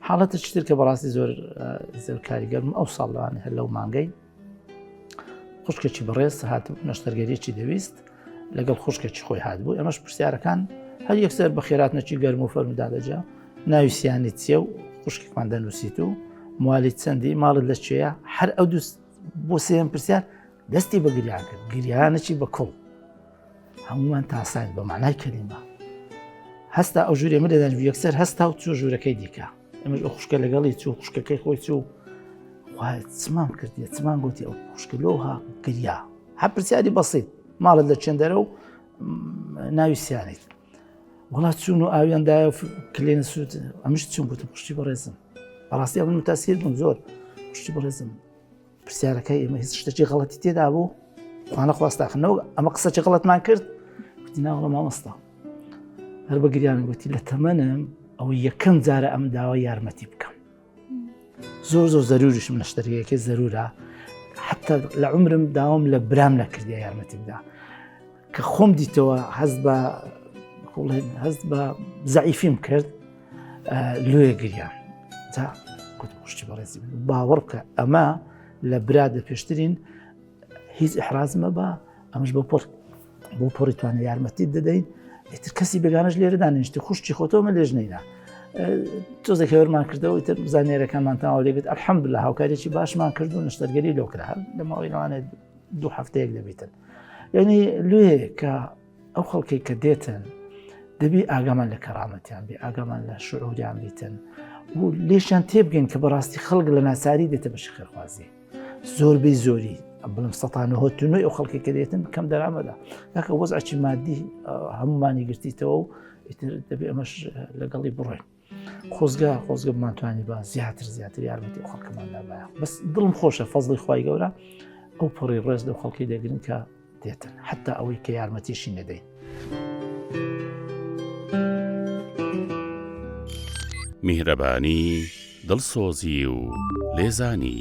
حاڵەتە چتر کە بەڕاستی زۆر زۆر کاریگەرم ئەو ساڵوان هەر لەو مانگەی خوشکەچی بەڕێز هات نەشتەرگەریی دەویست لەگەڵ خوشکەچی خۆی هات بوو ئەمەش پرسیارەکان هەر یەکسەر بە خێرات نەچی گەرم و فەرمدا دەجا ناوی سیانی چیە و خوشکێکمان دەنووسیت و موالی چەندی ماڵت لە چێە هەر ئەو دوست بۆ سێم پرسیار دەستی بە گریان کرد گریانەی بە کوڵ هەمووان تاسایت بە مانای کەلیمە هەستا ئەو ژوورێ من دەدەن یەکسەر هەستا و چوە ژوورەکەی دیکە ئەمەش ئەو خوشکە لەگەڵی چوو خوشکەکەی خۆی چوو چمان کردی چمان گوتی ئەو خوشکلۆها گریا هە پرسیاری بەسیت ماڵت لە چێندەرە و ناوی سیانیت وڵات چوون و ئاویاندایە کلێن سووت ئەمش چون گوتم پشتی بەڕێزم بەڕاستی ئەمن متاسیر بووم زۆر پشتی بەڕێزم پرسیارەکەی ئێمە هیچ شتێکی غڵەتی تێدا بوو خوانە خواستاخنەوە ئەمە قسەی غڵەتمان کرد گوتی ناوەڵە مامۆستا هەر بە گریان گوتی لە تەمەنم ئەو یەکەم جارە ئەم داوای یارمەتی بکەم زۆر زۆر زەروریشم لە شتەرەکە زەرورە حتا لە عمرم داوام لە برام نەکردی یارمەتی بدا کە خۆم دیتەوە حەز بە هەست بە زعیفیم کرد لێ گریان تا کوشتی بەڕێزی باوەڕ بکە ئەمە لە برا دە پێشترین هیچ ئحرازمە بە ئەمش بۆ پۆر بۆ پۆری توانە یارمەتی دەدەین ئیتر کەسی بێگانش لێرەدا نیشتی خوشتی خۆتەوە لێژ نەیدا تۆزە کەێرمان کردەوە تر زانێرەکانمان تاوا لێبێت ئەحمد لە هاوکارێکی باشمان کرد و نشتەرگەری لۆکرا لە ماوەی لەوانێت دوو هەفتەیەک دەبیتن یعنی لێ کە ئەو خەڵکەی کە دێتن دەبی ئاگامان لە کەڕامەتیان بێ ئاگامان لە شعوریان بیتن و لێشیان تێبگەن کە بەڕاستی خەڵک لە ناساری دێتە بە شخێخوازی زۆربەی زۆری بڵم سەتانهۆتنەوەی ئەو خەڵکی کە دێتن کەم دەرامەدا ناکە وەز ئەچی مادی هەمومانی گرتیتەوە و ئیتر دەبێ ئەمەش لەگەڵی بڕێن خۆزگە خۆزگە بمانتوانی بە زیاتر زیاتر یارمەتی خەڵکەماندا بە بەس دڵم خۆشە فەزڵی خی گەورە ئەو پەڕی ڕێز لەو خەڵکی دەگرن کە دێتن حتا ئەوەی کە یارمەتیشی نەدەین. میهرەبانی دڵسۆزی و لێزانی.